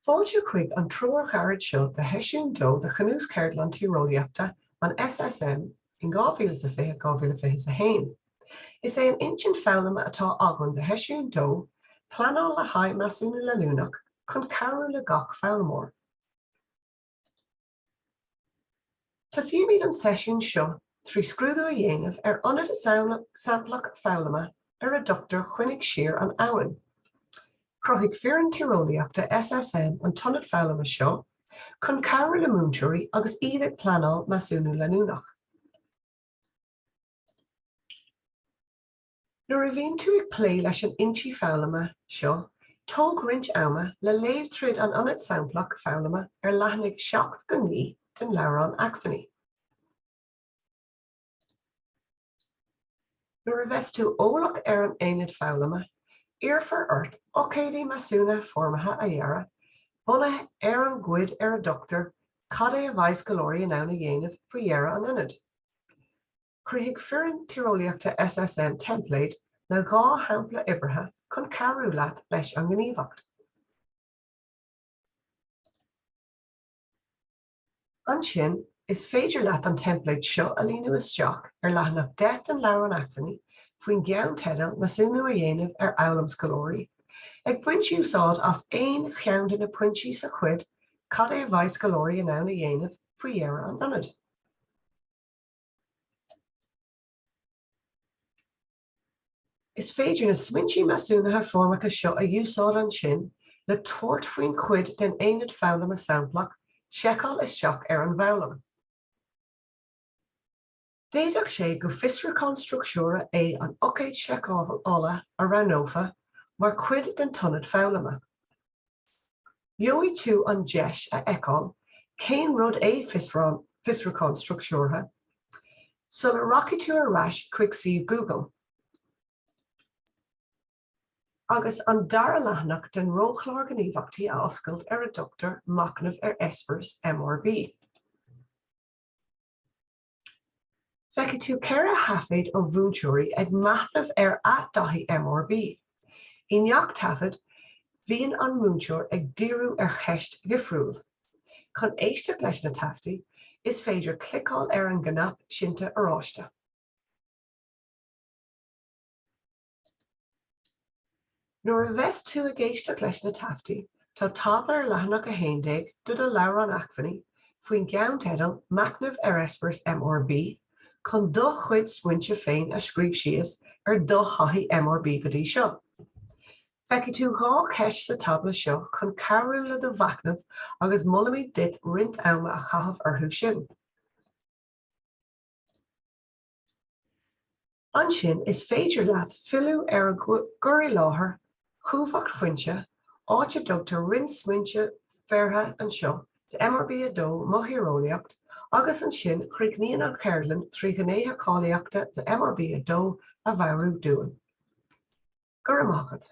Fáilte chuig an treoirchárta seo do sheisiún dó de Chnuas Cheardlann Tíreolaíochta an SSM in 2020, 2021. Is é an intinn foghlama atá againn do sheisiún dó, pleanáil le haghaidh measúnú leanúnach chun cabhrú le gach foghlaimeoir. Tosóimid an seisiún seo trí scrúdú a dhéanamh ar aonad samplach foghlama ar a dtugtar Coinnigh Siar an Abhainn. Chruthaigh foireann Tíreolaíochta SSM an t-aonad foghlama seo chun cabhrú le múinteoirí agus iad ag pleanáil Measúnú Leanúnach. Nuair a bhíonn tú ag plé leis an intinn foghlama seo, tóg roinnt ama le léamh tríd an Aonad Samplach Foghlama ar leathanaigh 7 go 9 den leabhrán Acmhainní. Nuair a bheas tú eolach ar an Aonad Foghlama, iarrfar ort ócáidí measúnaithe foirmeacha a dhearadh, bunaithe ar an gcuid ar a dtugtar Cad é a bheidh scoláirí in ann a dhéanamh faoi dheireadh an Aonaid? Chruthaigh foireann Tíreolaíochta SSM teimpléad le dhá shampla oibrithe chun cabhrú leat leis an ngníomhaíocht. Ansin, is féidir leat an teimpléad seo a líonadh isteach ar leathanach 10 den Leabhrán Acmhainní faoin gceannteideal Measúnú a dhéanamh ar Fhoghlaim Scoláirí, ag baint úsáid as aon cheann de na pointí sa chuid Cad é a bheidh scoláirí in ann a dhéanamh faoi dheireadh an Aonaid? Is féidir na smaointí measúnaithe foirmeacha seo a úsáid ansin le tabhairt faoin chuid den aonad foghlama samplach seiceáil isteach ar an bhfoghlaim. D'fhéadfadh sé gur fiosrúchán struchtúrtha é an ócáid seiceála a roghnófa mar chuid den t-aonad foghlama. Gheobhaidh tú an deis a fheiceáil cén rud é Fiosrúchán Struchtúrtha sula rachaidh tú ar ais chuig suíomh Google. agus an dara leathanach den roghchlár Gníomhaíochtaí a oscailt ar a dtugtar Machnamh ar Eispéireas MRB. Feicfidh tú ceithre thaifead ó mhúinteoirí ag machnamh ar a dtaithí MRB. I ngach taifead, bhíonn an múinteoir ag díriú ar cheist dhifriúil. Chun éisteacht leis na taifeadtaí, is féidir cliceáil ar an gcnaipe seinnte Oráiste. Nuair a bheas tú ag éisteacht leis na taifeadtaí, tá tábla ar leathanach 11 de do leabhrán acmhainní faoin gceannteideal 'Machnamh ar Eispéireas MRB' chun do chuid smaointe féin a scríobh síos ar do thaithí MRB go dtí seo. Feicfidh tú dhá cheist sa tábla seo chun cabhrú le do mhachnamh agus molaimid duit roinnt ama a chaitheamh orthu sin. Ansin is féidir leat filleadh ar an gcur i láthair Chumhachtphointe, áit a dtugtar roinnt smaointe breise anseo do MRB2 Mo Thíreolaíocht agus ansin críochnaíonn an cheardlann trí ghnéithe cáilíochta de MRB2 a mheabhrú dúinn. Go raibh maith agat.